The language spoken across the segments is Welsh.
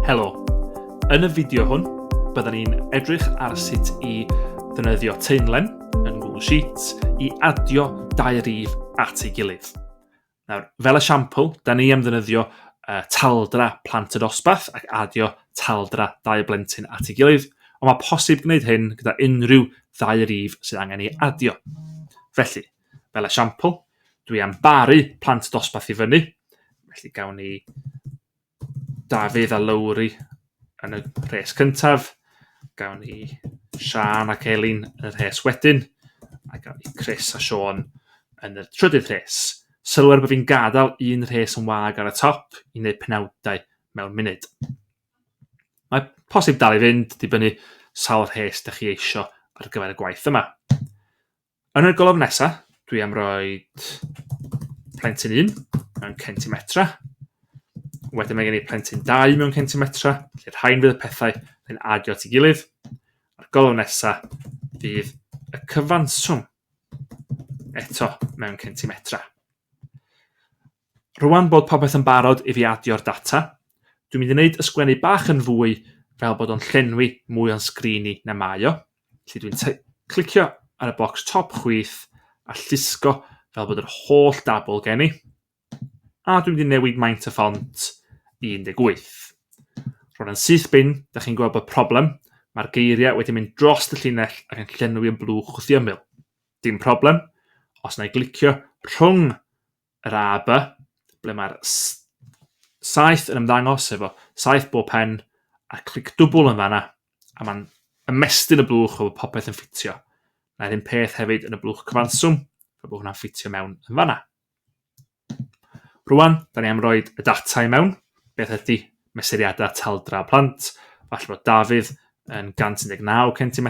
Helo, yn y fideo hwn, byddwn ni'n edrych ar sut i ddefnyddio teimlen yn Google Sheets i adio dau rif at ei gilydd. Nawr, fel esiampl, da ni am ddynyddio uh, taldra plant y dosbarth ac adio taldra dau blentyn at ei gilydd, ond mae posib gwneud hyn gyda unrhyw ddau rif sydd angen ei adio. Felly, fel esiampl, dwi am baru plant dosbarth i fyny, felly gawn ni Dafydd a Lowri yn y rhes cyntaf. Gawn ni Siân ac Elin yn y rhes wedyn. A gawn ni Chris a Siôn yn y trydydd rhes. Sylwer bod fi'n gadael un rhes yn wag ar y top i wneud penawdau mewn munud. Mae posib dal i fynd dibynnu sawl rhes da chi eisiau ar gyfer y gwaith yma. Yn y golofn nesaf, dwi am roi plentyn 1 mewn centimetra. Wedyn mae gen i plentyn 2 mewn centimetra, lle rhain fydd y pethau yn adio at ei gilydd. A'r golofn nesaf fydd y cyfanswm eto mewn centimetra. Rwan bod popeth yn barod i fi adio'r data, dwi'n mynd i wneud ysgwennu bach yn fwy fel bod o'n llenwi mwy o'n sgrin i na mae o. Felly dwi'n clicio ar y bocs top chwith a llusgo fel bod yr holl dabl gen i. A dwi'n mynd i newid maint y ffont i 18. Rwan yn syth bin, da chi'n gweld bod problem, mae'r geiriau wedi mynd dros y llinell ac yn llenwi yn blwch wrth i ymyl. Dim problem, os na i glicio rhwng yr A, B, ble mae'r s- saeth yn ymddangos efo saeth bob pen a clic dwbl yn fanna a mae'n ymestyn y blwch efo popeth yn ffitio. Mae'r un peth hefyd yn y blwch cyfanswm, fe bod hwnna'n ffitio mewn yn fanna. Rwan, da ni am roi y data i mewn, beth ydy mesuriadau taldra plant, falle bod Dafydd yn 119 cm,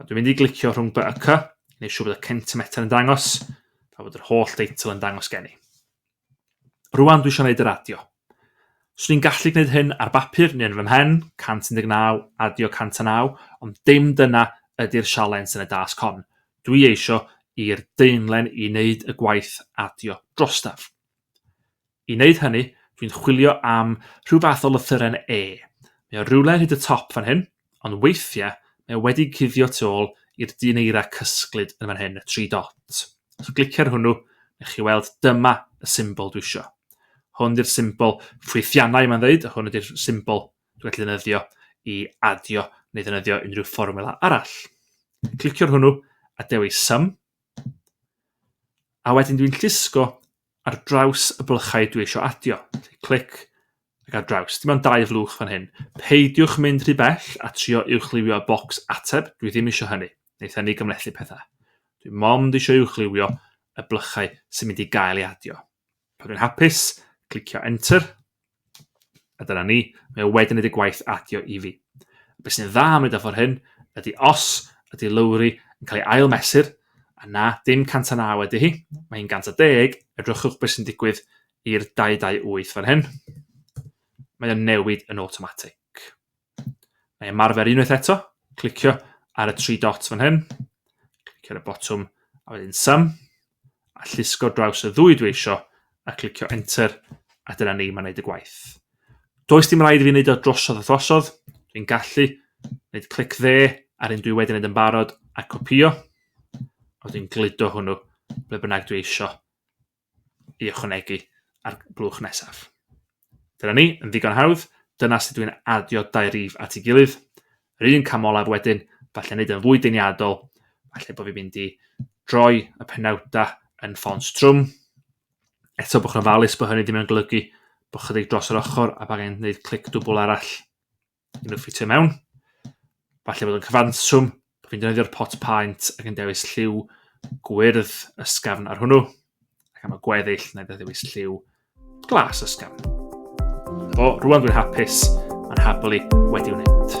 Wel, dwi'n mynd i glicio rhwng by a cy, neu siw bod y centimetr yn dangos, a bod yr holl deitl yn dangos gen i. Rwan dwi eisiau gwneud yr adio. Swn i'n gallu gwneud hyn ar bapur neu yn fy mhen, 119, adio 109, ond dim dyna ydy'r sialens yn y dasg hon. Dwi eisiau i'r deunlen i wneud y gwaith adio drostaf. I wneud hynny, dwi'n chwilio am rhyw fath o lythyren E. Mae o rywle hyd y top fan hyn, ond weithiau mae o wedi cuddio tu ôl i'r dyn eira cysglyd yn fan hyn, y tri dot. Os glicio ar hwnnw, nech chi weld dyma y symbol dwi eisiau. Hwn di'r symbol ffwythiannau mae'n dweud, a hwn ydy'r symbol dwi'n gallu ddefnyddio i adio neu ddefnyddio unrhyw fformula arall. Clicio ar hwnnw a dewis sum. A wedyn dwi'n llusgo ar draws y blychau dwi eisiau adio. Clic ac ar draws. Dim ond dau flwch fan hyn. Peidiwch mynd rhy bell a trio uwchliwio y bocs ateb, dwi ddim eisiau hynny. Neith hynny gymlethu pethau. Dwi mond eisiau uwchliwio y blychau sy'n mynd i gael ei adio. Pan dwi'n hapus, clicio Enter. A dyna ni, mae o wedyn wedi gwaith adio i fi. Be sy'n dda am wneud ffordd hyn ydy os ydy lowri yn cael ei ail mesur, a na, dim 109 ydy hi, mae hi'n 110, edrychwch beth sy'n digwydd i'r 228 fan hyn. Mae o'n newid yn automatic. Na i ymarfer unwaith eto, clicio ar y tri dot fan hyn, clicio ar y botwm a wedyn sum, a llusgo draws y ddwy dwi eisiau, a clicio enter, a dyna ni, mae'n gwneud y gwaith. Does dim rhaid i fi wneud o drosodd a throsodd, dwi'n gallu wneud clic dde ar un dwi wedi wneud yn barod a copio, a dwi'n gludo hwnnw ble bynnag dwi eisiau ei ychwanegu ar y blwch nesaf. Dyna ni, yn ddigon hawdd, dyna sut dwi'n adio dau rif at ei gilydd. Yr un cam olaf wedyn, falle wneud yn fwy deniadol, falle bod fi'n mynd i droi y penawda yn ffons trwm. Eto bod chi'n ofalus bod hynny ddim yn golygu bod chydig dros yr ochr a bod angen gwneud clic dwbl arall. Yn y ffitio mewn. Falle bod yn cyfanswm bod fi'n defnyddio'r pot paent ac yn dewis lliw gwyrdd ysgafn ar hwnnw. Ac am y gweddill, na i ddewis lliw glas ysgafn. O, rwan dwi'n hapus, mae'n habl i wedi wneud.